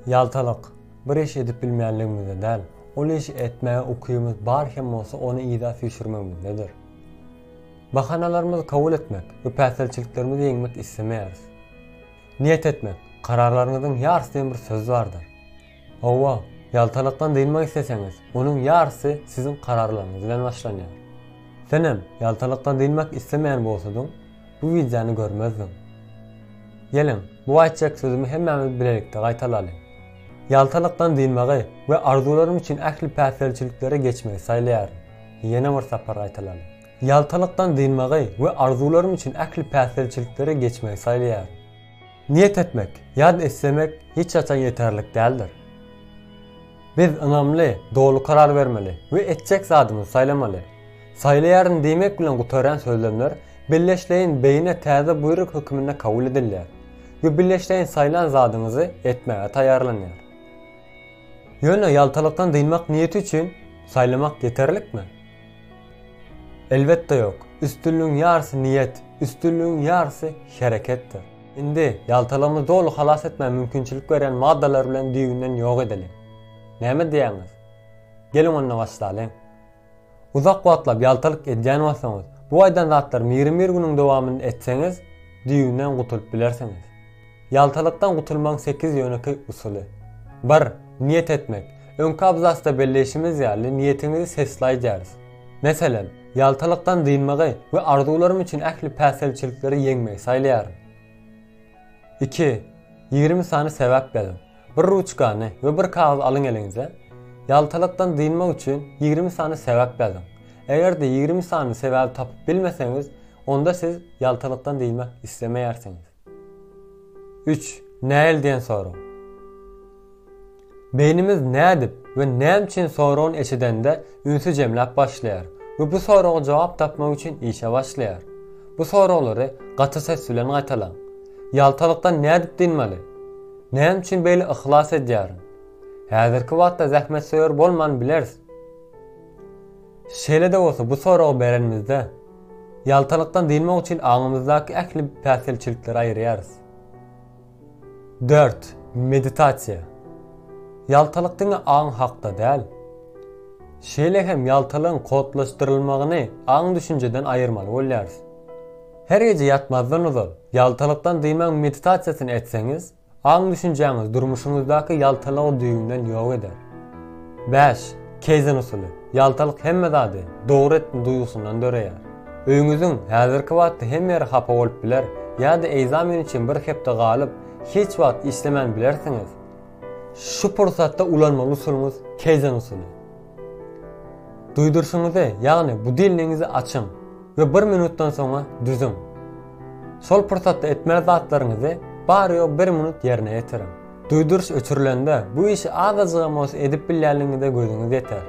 Ýaltalyk, bir iş edip bilmänligimizde däl, ol işi etmäge ukybymyz bar hem bolsa ony yza süýşürmegimizdedir. Bahanalarymyzy kabul etmek we päsgelçiliklerimizi ýeňmek islemeýäris. Niýet etmek, kararlaryňyzyň ýarysy diýen bir söz bardyr. Hawa, ýaltalykdan dynmak isleseňiz, onuň ýarysy siziň kararlaryňyz bilen başlanýar. Senem ýaltalykdan dynmak islemeýän bolsadyň, bu wideony görmezdiň. Geliň, bu aýtjak sözümi hemmämiz bilelikde gaýtalalyň. Ýaltalykdan dynmagy we arzuwlarym üçin ähli päsgelçiliklere geçmegi saýlaýaryn. Ýene bir sapar gaýtalalyň. Ýaltalykdan dynmagy we arzuwlarym üçin ähli päsgelçiliklere geçmegi saýlaýaryn. Niýet etmek, ýa-da islemek hiç haçan ýeterlik däldir. Biz ynamly, doly karar bermeli we etjek zadymyzy saýlamaly. Saýlaýaryn diýmek bilen gutarýan sözlemler billeşleýin beýine täze buýruk höküminde kabul edilýär we billeşleýin saýlan zadyňyzy etmäge taýýarlanýar. Ýöne ýaltalykdan dynmak niýeti üçin saýlamak ýeterlikmi? Elbetde ýok. Üstünligiň ýarysy niýet, üstünligiň ýarysy hereketdir. Indi, ýaltalarymyzy doly halas etmäge mümkinçilik berýän maddalary bilen düýbünden ýok edeliň. Näme diýýäňiz? Geliň onda başlalyň. Uzak wagtlap ýaltalyk edýän bolsaňyz, bu aýdan zatlary mirim bir günüň dowamynda etseňiz, düýbünden gutulyp bilersiňiz. Ýaltalykdan gutulmagyň sekiz ýönekeý usuly. Bir, Niýet etmek. Öňki abzasda belleýşimiz ýaly, niýetiňizi sesli aýdýarys. Meselem. Ýaltalykdan dynmagy we arzuwlarym üçin ähli päsgelçilikleri ýeňmegi saýlaýaryn. Iki, ýigrimi sany sebäp ýazyň. Bir ruçkany we bir kagyz alyň eliňize. Ýaltalykdan dynmak üçin ýigrimi sany sebäp ýazyň. Eger-de ýigrimi sany sebäbi tapyp bilmeseňiz, onda siz ýaltalykdan dynmak islemeýärsiňiz. Üç, Näil diýen sorag. Beýnimiz nädip we näme üçin soragyny eşidende ünsi jemläp başlaýar we bu soraga jogap tapmak üçin işe başlaýar. Bu soraglary gaty ses bilen gaýtalaň. Ýaltalykdan nädip dynmaly? Näme üçin beýle yhlas edýärin? Häzirki wagtda zähmetsöýer bolman bileris. Şeýle-de bolsa, bu soragy berenimizde, ýaltalykdan dynmak üçin aňymyzdaky ähli päsgelçilikleri aýyrýarys. Dört, meditasiýa. Ýaltalyk diňe aň hakda däl, şeýle hem ýaltalygyň kodlaşdyrylmagyny aň-düşünjeden aýyrmaly bolýarys. Her gije ýatmazdan ozal, ýaltalykdan dynmagyň meditasiýasyny etseňiz, Aň-düşünjäňizi durmuşyňyzdaky ýaltalygy düýbünden ýok eder. Bäş, Keizen usuly. Ýaltalyk hemme zady dogry etdim duýgusyndan döreýär. Öýüňiziň häzirki wagtda hem ýeri hapa bolup biler ýa-da egzamen üçin bir hepde galyp, hiç wagt işlemän bilersiňiz. Şu pursatda ulanmaly usulyňyz Keizen usuly. Duýduryşyňyzy, ýagny budilnigiňizi açyň we bir minutdan soňa düzüň. Şol pursatda etmeli zatlaryňyzy bary-ýogy bir minut ýerine ýetiriň. Duýduryş öçürilende bu işi azajygam bolsa edip bilýänligiňize gözüňiz ýeter.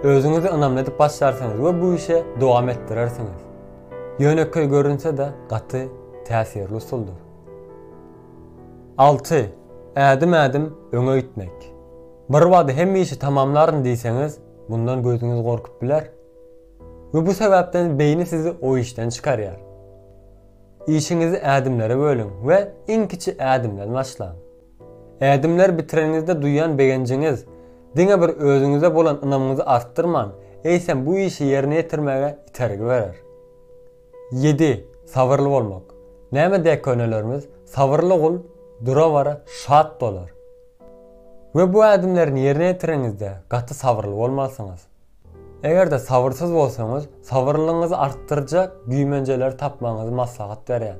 Özüňizi ynamly edip başlarsyňyz we bu işe dowam etdirersiňiz. Ýönekeý görünse-de gaty täsirli usuldyr. Alty, ädim-ädim öňe üýtmek. Birbada hemişe tamamlaryn diýseňiz, mundan gözüňiz gorkup biler we bu sebäpden beýni sizi o işden çykarýar. Işiňizi ädimlere bölüň we iň kiçi ädimden başlaň. Ädimleri bitireniňizde duýan begenjiňiz diňe bir özüňize bolan ynamyňyzy artdyrman, eýsem bu işi ýerine ýetirmäge itergi berer. Ýedi, sabyrly bolmak. Näme däk könelerimiz, Sabyrly gul dura-bara şat dolar. We bu ädimlerini ýerine ýetiriňizde gaty sabyrly bolmalysyňyz. Eger-de sabyrsyz bolsaňyz, sabyrlylygyňyzy artdyrjak güýmenjeleri tapmagyňyzy maslahat berýän.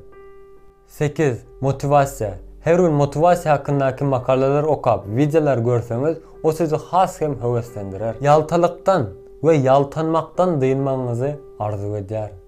Sekiz, motiwasiýa. Her gün motiwasiýa hakyndaky makalalar okap, wideolar görseňiz, o sizi has hem höweslendirer. Ýaltalykdan we ýaltanmakdan dynmagyňyzy arzuw edýärin.